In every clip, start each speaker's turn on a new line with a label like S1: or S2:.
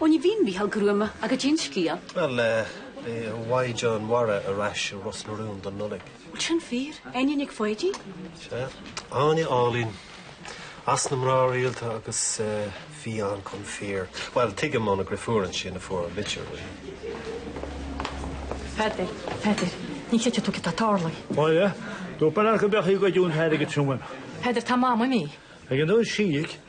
S1: Ó ní bhíonn Mícheál gruama agus déan scéal. Bhuel, eh, bhí Mhaighdean Mhara ar ais i Ros na Rún don Nollaig. Bhuel sin fíor, Áine Nic Pháidín? Sea, Áine Áilín. As na mná rialta agus eh, bhí an chun fíor. Bhuel, tuigim óna drifiúr ansin a fuair an litir. Peter, Peter, ní sé tú tá tálai. Báile, tú bar go bechaí go dún heir go trúman. Peter tá má mí? Ag an dún siigh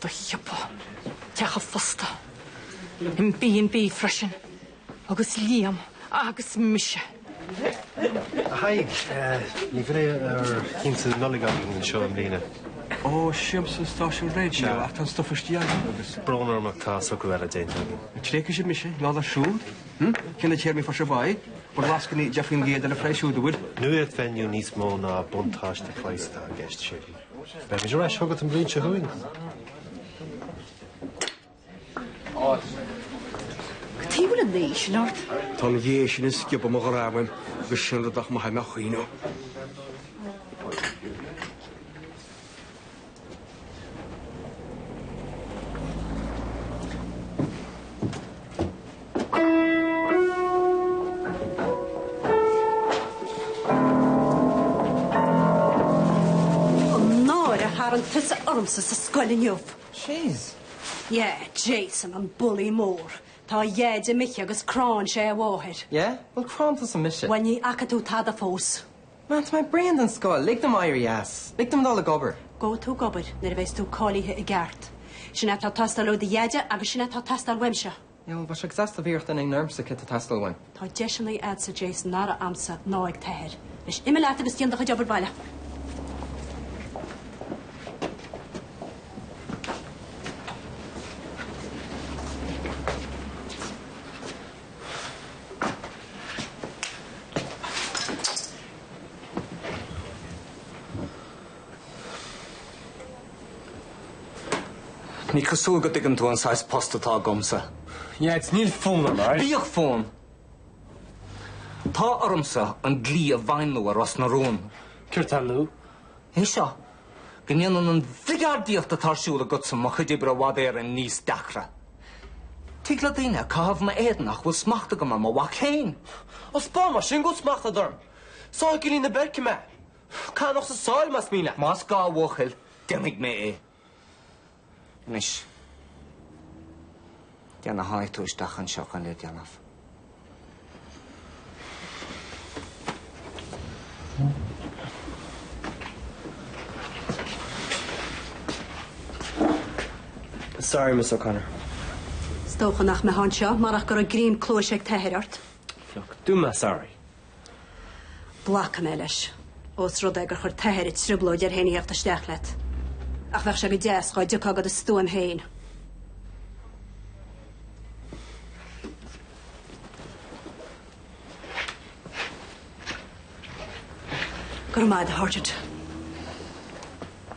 S1: Do shiopa teacha fosta i mB&B freisin agus Liam agus mise. A Thaidhg, ní bhreá ar thínte na Nollag againn anseo i mbliana. Ó, siamsa stáisiún raidió ach tá an stuif istigh agam agus. brón orm ach tá socrú eile déanta againn. An tréith is ea mise, lá na siúd. Hm, cé na téarmaí fairsing bhai? Bhuel lascaine, deich faoin gcéad ar an phraghas siúd a bhfuil. Nuacht bheith inniu níos mó ná buntáiste cloisteáil i gceist, Séirín. Beidh muid ar ais chugat an bhliain seo chugainn. Go dtí bhfuil an naoi sin ort. Tá an ghé sin ag sciobadh mo ghreama uaim agus sin rud nach maithfidh mé choíche. An náire a tharraing tusa ormsa sa scoil inniu. Sheas. Yeah, Jason, an bully mór. Tá a dheaide imithe agus cránn sé a mháthair. Yeah? Bhuel, cránn tusa mise. Bhuel, ní fhaca tú tada fós. Mam, tá mé bréan den scoil. Lig dom éirí as. Lig dom dul ag obair. Gabhfaidh tú ag obair nuair a bheas tú cáilithe i gceart. Sin é atá ag teastáil ó do dheaide agus sin é atá ag teastáil uaimse. Bhuel bheadh sé ag teastáil bhíreacht in aon fhoirmsa céard atá ag teastáil uaim. Tá deiseannaí a'dsa Jason nach raibh a'msa ná ag t'athair. Anois imigh leat agus déan do chuid obair baile. Ní cosúil go dtuigeann tú an saghas post atá agamsa. Nead, níl fonn orm, aye? Bíodh fonn! Tá ormsa an dlí a bhuanú ar Ros na Rún. Céard tá nua? É seo, go ndéanann an bhligeardaíocht atá ar siúl agatsa mo chuid oibre i bhfad Éireann níos deacra. Tig le daoine a chaitheamh i m'éadan nach bhfuil smacht agam ar mo mhac féin. Ó, spáin mar sin, go bhfuil smacht agat orm. Sáigh i gcillín na beairice mé. Cánach sa sáil, más mian leat. Más gá, a bhuachaill, déanfaidh mé é. Anois, cé nach tháinig tú isteach anseo chun é a dhéanamh? Sorry, Miss O'Connor. Is dócha nach mbeifeá anseo marach go raibh greim cluaise ag t'athair ort. Phioc. Dúirt mé sorry. Glacfaidh mé leis, ós rud é gur chuir t'athair an trioblóid air féin a theacht isteach leat. Ach bheadh sé go deas dhá dtiocfá de do stuaim féin. Go raibh maith agat, a Horchard.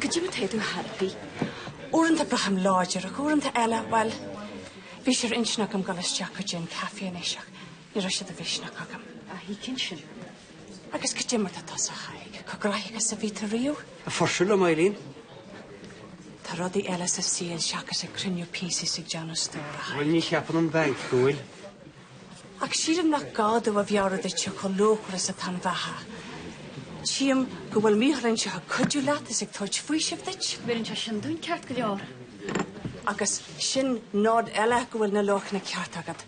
S1: Cad é mar atá tú tharaipí. Uaireanta braithim láidir ach uaireanta eile, bhuel, bhí sé ar intinn agam dul isteach go dtí an caife anois ach ní raibh sé de mhisneach agam. Á, tuigim sin. Agus cad é mar atá tusa, a Thaidhg, chomh gnoitheach is a bhí tú ariamh? Ag fuirseadh liom, Eileen. Tá rudaí eile sa saol seachas ag cruinniú píosaí is ag déanamh stór, a Thaidhg. Bhuel, ní cheapann an banc go bhfuil. Ach sílim nach gá dom a mheabhrú duitse chomh luachmhar is atá an bheatha. Tchím go bhfuil Mícheál anseo ag cuidiú leat is ag tabhairt faoisimh duit. Bheireann sé sin dúinn ceart go leor. Agus sin nod eile go bhfuil na luachanna cearta agat.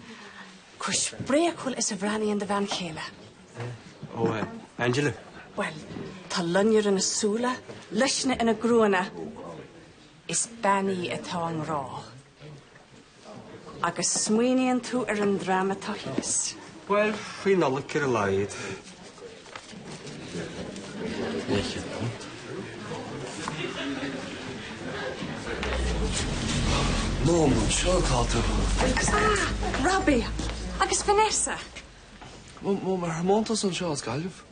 S1: Chomh spréachúil is a bhreathnaíonn do bhean chéile. Ó, eh, Angela? Bhuel, tá loinnir ina súile, luisne ina gruanna. Is bean í atá i ngrá. Agus smaoiníonn tú ar an dream atá thíos? Bhuel, faoi Nollaig ar a laghad. Mum, anseo atá tú? Robbie! Agus Vanessa? Mum, ar thiomáint tusa anseo as Gaillimh?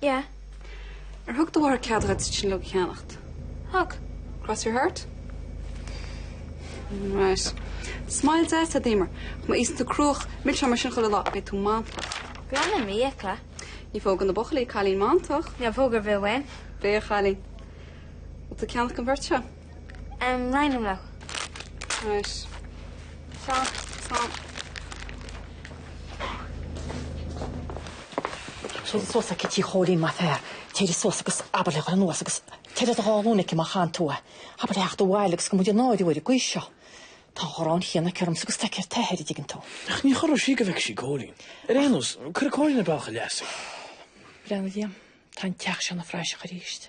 S1: Yeah. Ar thug do mháthair cead dhuit sin uilig a cheannacht? Thug. Cross your heart? Right. Smile deas, do Emer. Ach má itheann tú cruach milseáin mar sin chuile lá, beidh tú mantach. Glanaim m'fhiacla. Ní phógann na buachaillí cailín mantach. Níl póg ar bith uaim. Maith an cailín. Bhfuil tú ag ceannacht don bheirt seo? Raghnallach. Right. Stop, stop. Téirigh suas aici tigh Chóilín, maith an fear. Téirigh suas agus abair léi a ghoil anuas agus téirigh ar do dhá ghlúin aici má chaitheann tú é. Abair léi a theacht abhaile agus gan muid a náiriú ar an gcaoi seo. Tá an ghráin chéanna aici ormsa agus atá aici ar t'athair, an dtuigeann tú. Ach ní chorróidh sí go bhfeicfidh sí Cóilín. Ar aon nós, cuirfidh Cóilín ar bhealach a leasa. Breathnaigh liom. Tá an teach seo ina phraiseach arís.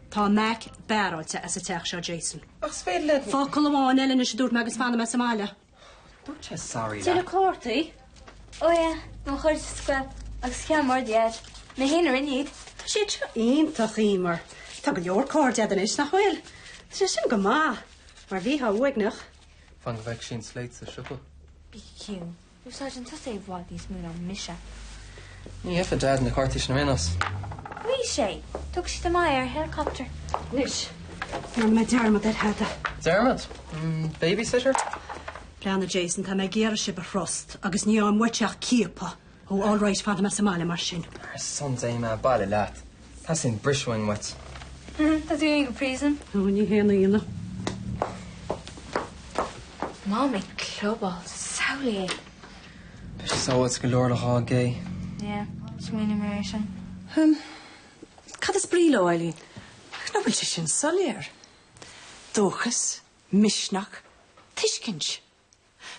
S1: Tá Mack beáráilte as an teach seo, Jason. Ach 's féidir le. Focal amháin eile anois a dúirt mé agus fanfaidh mé sa mbaile. Dúirt sé sorry leat. Tuilleadh cártaí? Ó yeah, ón chuid sa scoil agus cheann mór de fhad. Mé féin a rinne iad. Tá siad seo iontach, Emer. Tá go leor cairde 'ad anois, nach bhfuil? Tá sé sin go maith, mar bhíteá uaigneach. Fan go bhfeicfidh sí an sléit sa siopa. Bígí ciúin. Úsáideann tusa é i bhfad níos mó ná mise. Ní fheicfeadh Deaid na cártaí sin araon as. Ghuigh sé. Thug siad amach é ar helicopter. Anois, déanfaidh mé dearmad ar Theada. Dearmad? An babysitter? Breathnaigh, Jason, tá mé ag iarraidh sibh a thrust agus ní fhaigheann muid ach ciapadh ó All Right fanfaidh mé sa mbaile mar sin. Ar son Dé, imigh abhaile leat. Tá sin briseoin mait. Tá tú i bpríosún. Ó, ní haon ionadh. Mom ag clubáil sa samhléigh. Tá sé sábháilte go leor le dhá gcé. Yeah, smaoinigh mé air sin. Hum. Cad is brí leo, Eileen? Ach nach bhfuil sé sin soiléir. Dóchas, misneach, tuiscint.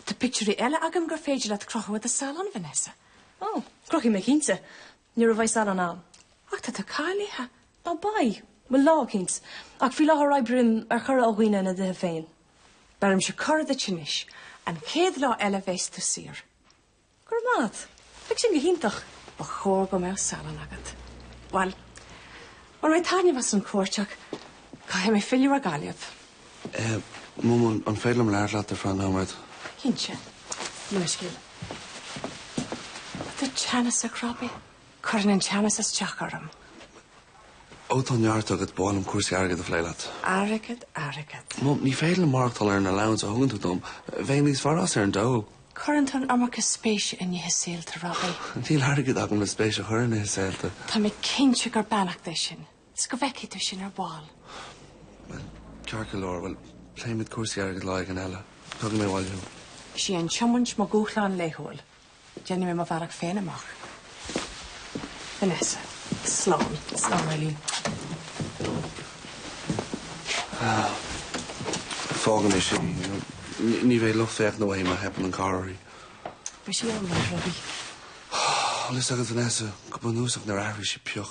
S1: Tá pictiúirí eile agam gur féidir leat crochadh i do salon, Vanessa. Ó, crochfaidh mé cinnte. Nuair a bheidh salon 'am. Ach tá tú cáilithe! Níl, beidh mé lá eicínt. Ach faoi láthair oibrím ar chuireadh ó dhaoine ina dtithe féin. Beirimse cuireadh duit anois. An chéad lá eile bheas tú saor. Go raibh maith 'at. Beidh sin go hiontach. Ba chóir go mbeadh salon agat. Bhuel, bhain mé taitneamh as an chuairt ach caithfidh mé filleadh ar Ghaillimh. Eh, Mum, an féidir liom labhairt leat ar feadh nóiméad? Cinnte. Inis do scéal. Tá tú teannasach, Robbie. Cuireann an teannas isteach orm. Ó, tá an ceart agat. B'áil liom cúrsaí airgid a phlé leat. Airgead, airgead. Mum, ní féidir liom maireachtáil ar an allowance a thugann tú dom. Bheinn níos fearr as ar an dól. Cuireann tú an iomarca spéise in nithe saolta, Robbie. Níl airgead agam le spéis a chur in nithe saolta. Tá mé cinnte gur beannacht é sin. 'S go bhfeicfidh tú sin ar ball. Bhuel, ceart go leor, bhuel, pléifimid cúrsaí airgid lá éigin eile. Tabharfaidh mé abhaile thú. Is é an tiomaint mo dhúshlán laethúil. Déanfaidh mé mo bhealach féin amach. Vanessa. Slán. Slán, Eileen. Fágfaidh mé sin. Ní bheadh lucht féachana uaim má theipeann an carr uirthi. Beidh sí ann, a Robbie. 'Bhfuil fhios agat, Vanessa, go bunúsach nár athraigh sí pioc.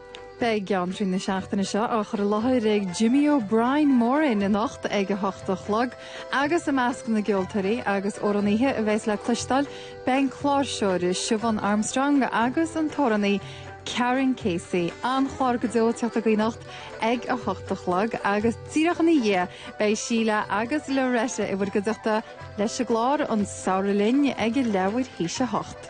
S1: Beidh Geantraí na seachtaine seo á chur i láthair ag Jimmy O'Brien Moran anocht ag 8 a chlog agus i measc na gceoltóirí agus amhránaithe a bheas le cloisteáil beidh an cláirseoir Siobhan Armstrong agus an t-amhránaí Karen Casey. An-chlár go deo ag teacht againn anocht ag 8 a chlog agus díreach ina dhiaidh beidh Síle agus Loretta i bhur gcuideachta leis an gclár An Samhradh Linn ag a leathuair théis 8.